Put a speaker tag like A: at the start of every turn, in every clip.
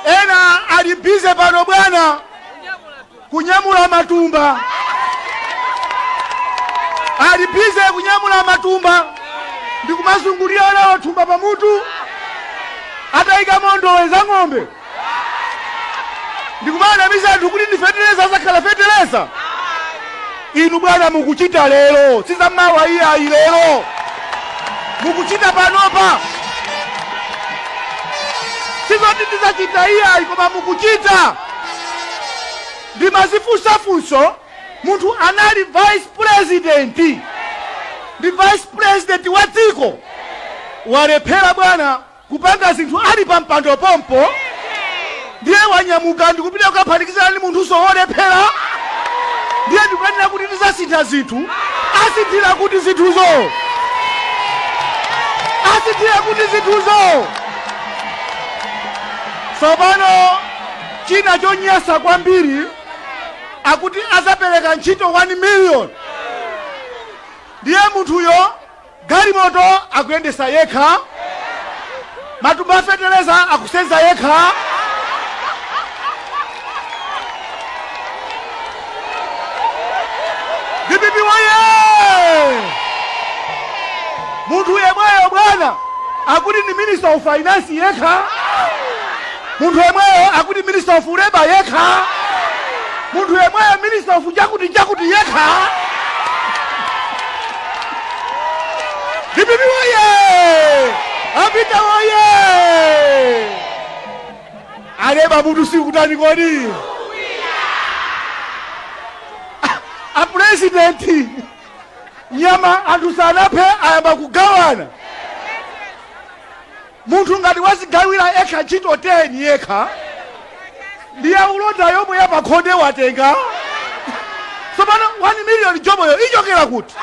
A: Ena ali busy pano bwana kunyamula matumba, ali busy kunyamula matumba ndi kumazungulira anawo thumba pamutu ataika ndowe za ng'ombe ndikumanamiza anthu kuti ndi feteleza asakhala feteleza Inu bwana mukuchita lero si za mawa iyayi, lero mukuchita panopa si zoti ndidzachita iyayi, koma mukuchita. Ndimazifunsa funso, munthu anali vice president ndi vice president wa dziko walephera bwana kupanga zinthu ali pa mpando pompo ndiye wanyamuka ndikupita kukaphatikizana ndi munthunso wolephera ndiye ndikumanena kuti tizasintha zinthu asinthira kuti zinthuzo asinthira kuti zinthuzo tsopano china chonyasa kwambiri akuti azapereka ntchito 1 million ndiye munthuyo Galimoto akuyendesa yekha? Matumba a feteleza akusenza yekha? Dpp woyee! Munthu yemweyo bwana akuti ndi minister of finance yekha? Munthu yemweyo akuti minister of labour yekha Munthu yemweyo minister of chakuti chakuti yekha Dpp woye! Apita woye! Alemba m'madzi sukutani kodi? A president nyama anthu sanaphe ayamba kugawana. Munthu ngati wazigawila ekha ntchito 10 yekha ndi ya ulonda yomwe ya pakhonde watenga tsopano 1 million joboyo ichokera kuti?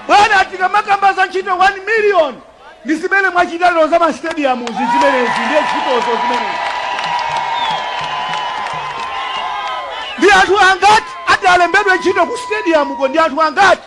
A: Bwana tikamakamba za ntchito 1 million ndi zimene mwachita lero za ma stadiumzi zimenezi ndiye ntchitozo zimenezi ndi anthu angati atalembedwe ntchito ku stadiumuko ndi anthu angati?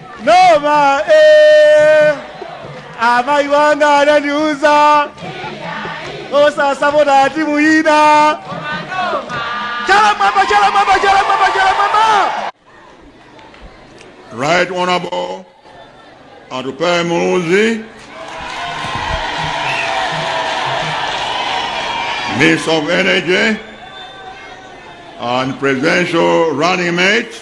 A: Noma eh Amai wanga ananiuza osasapota timu ina chala mwamba chala mwamba chala mwamba chala mwamba Right Honorable Atupele Muluzi, Minister of Energy and Presidential Running Mate.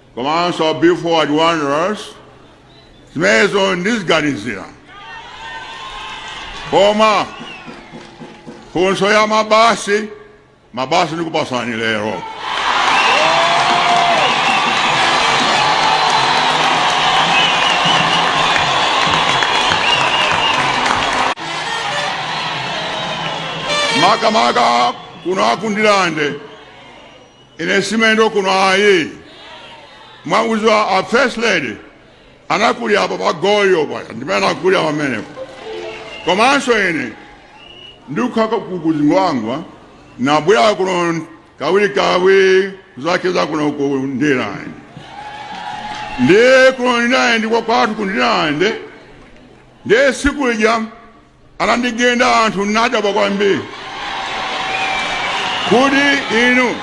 A: komanso Be Forward Wanderers zimenezo ndiziganizira koma funso ya mabasi mabasi ndikupasani lero makamaka kuno a ku Ndirande Ine si mlendo kuno ayi mwauzwa a first lady anakulira apa pa Goliyo paja ndimene anakulira pamenepo komanso ine ndikukhala ku Zingwangwa nabwera kuno kawirikawiri kuzacheza kuno ku Ndirande ndiye kuno Ndirande kwa kwathu ku Ndirande ndiye tsiku lija Anandigenda anthu nadabwa kwambiri kuti inu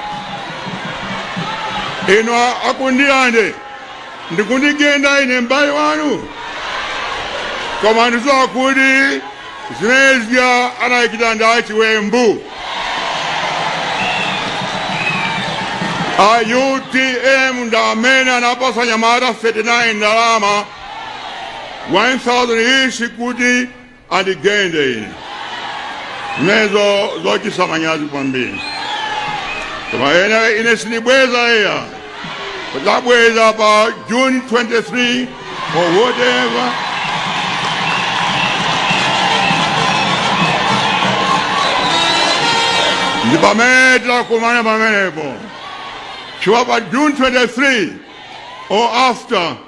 A: inu a ku Ndirande ndikundigenda ine mbale wanu koma ndidziwa kuti zimene zija anachita ndi achiwembu a utm ndi amene anapatsa anyamata 39 ndalama 1000 each kuti andigende ine zimenezo zochititsa manyazi kwambiri koma ine ine sindibweza iya tidzabweza pa june 23 or whatever ndi pamene tidzakumane pamenepo chifukwa pa june 23 or after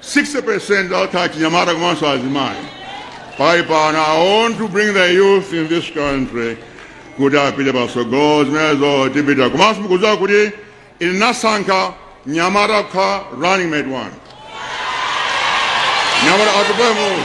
A: 60% anthu achinyamata komanso azimayi pali pano i want to bring the youth in this country kuti apite patsogolo zimenezo tipita komanso mukudziwa kuti ine nasankha mnyamata kukhala running mate wanga mnyamata Atupele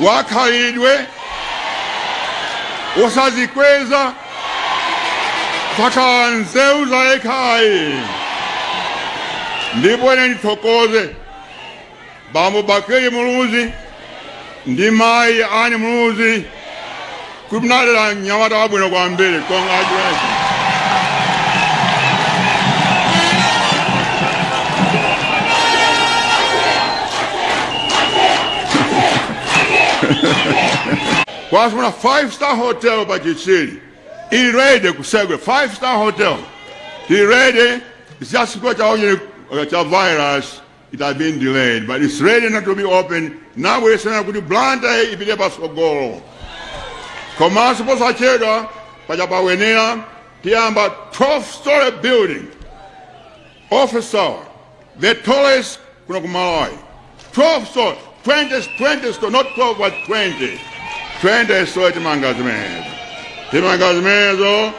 A: wakhalidwe wosadzikweza sakhala nzeru za yekha ayi ndipo ine ndithokoze bambo Bakili Muluzi ndi mayi Annie Muluzi kuti munalera mnyamata wabwino kwambiri congratulations kwafuna five star hotel pa chichiri ili ready kutsegula five star hotel ili ready isiyasikwa chaonye cha virus It has been delayed, but it's ready now to be opened. Ndabweretsa kuti Blantyre ipite patsogolo. Komanso posachedwapa cha pa Wenela tiyamba 12 story building. Office tower, the tallest kuno ku Malawi. 12 story, 20, 20 story, not 12 but 20. 20 story timanga zimenezo. Timanga zimenezo.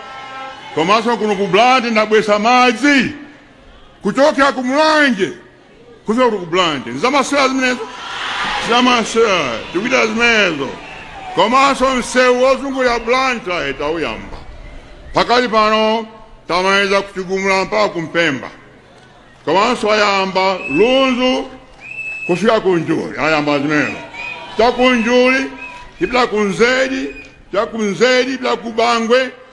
A: Komanso kuno ku Blantyre ndabweretsa madzi. kuchokera ku mulanje kufika kuti ku Blantyre zamasewera zimenezo zamasewera tikuchita zimenezo komanso msewu wozungulira Blantyre tauyamba pakali pano tamaliza ku chigumula mpaka kumpemba komanso ayamba lunzu kufika ku njuli ayamba zimenezo cha ku njuli tipita ku nzedi cha ku nzedi tipita ku bangwe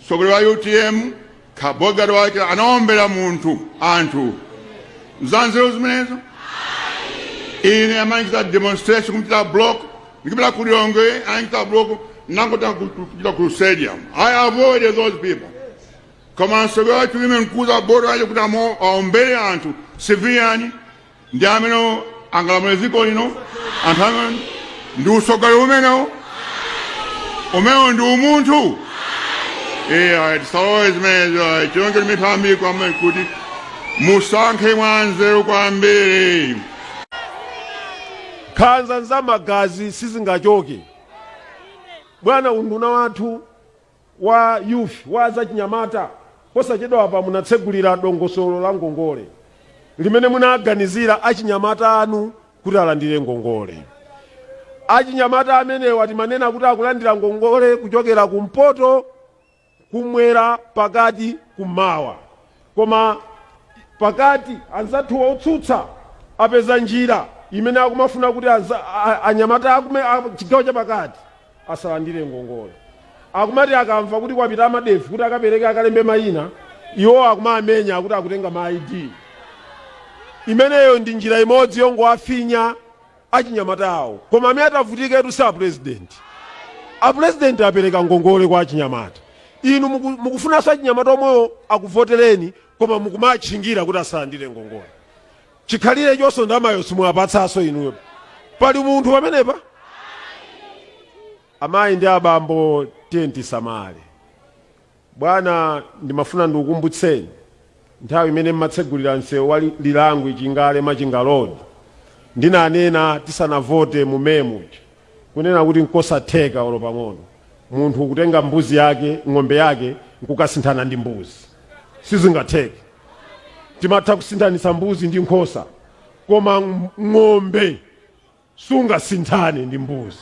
A: Mtsogoleri wa utm kwa bodyguard wake anaombera munthu anthu nzanzeru zimenezo ine amandichita demonstration kundichita block ndikupita ku Lilongwe anachita block ndangoti kupita ku stadium i avoided those people koma mtsogoleri wa utm nkuuza bodyguard kuti amo- aombere anthu civilian ndi amene angalamule dziko lino anthu amene ndi usogoleri umenewo umenewo ndi umunthu ayi tisalole zimenezo chonde ndimapempha kwambiri kuti musankhe mwa nzeru kwambiri nkhanza za magazi sizingachoke bwana unduna wathu wa Youth wa azachinyamata posachedwapa munatsegulira dongosolo la ngongole limene munaganizira achinyamata anu kuti alandire ngongole. Achinyamata amenewa timanena kuti akulandira ngongole kuchokera kumpoto, kummwera, pakati, kummawa. Koma pakati anzathuwa otsutsa apeza njira imene akumafuna kuti anyamata a chigawo chapakati. asalandire ngongole. Akumati akamva kuti kwapita a MADEF kuti akapereke akalembe mayina, iwowo akumawamenya kuti akutenga ma ID. Imeneyo ndi njira imodzi yongowafinya achinyamatawo. Koma amene atavutiketu si apulezidenti. Apulezidenti apereka ngongole kwa achinyamata. Inu muku- mukufunanso achinyamata omwewo akuvotereni koma mukumawatchingira kuti asalandire ngongole. chikhalirechoso ndamayo simuwapatsaso inu ayi pali munthu pamenepa amayi ndi abambo tiyeni tisamale bwana ndimafuna ndikukumbutseni nthawi imene mmatsegulira msewu wa lilangwi chingale machinga road ndinanena tisanavote mumemu kunena kuti nkosatheka olo pang'ono munthu kutenga mbuzi yake ng'ombe yake nkukasinthana ndi mbuzi sizingatheke timatha kusinthanitsa mbuzi ndi nkhosa koma ng- ng'ombe sungasinthane ndi mbuzi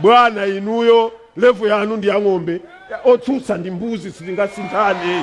A: bwana inuyo levulo yanu ndi ya ng'ombe otsutsa ndi mbuzi sitingasinthane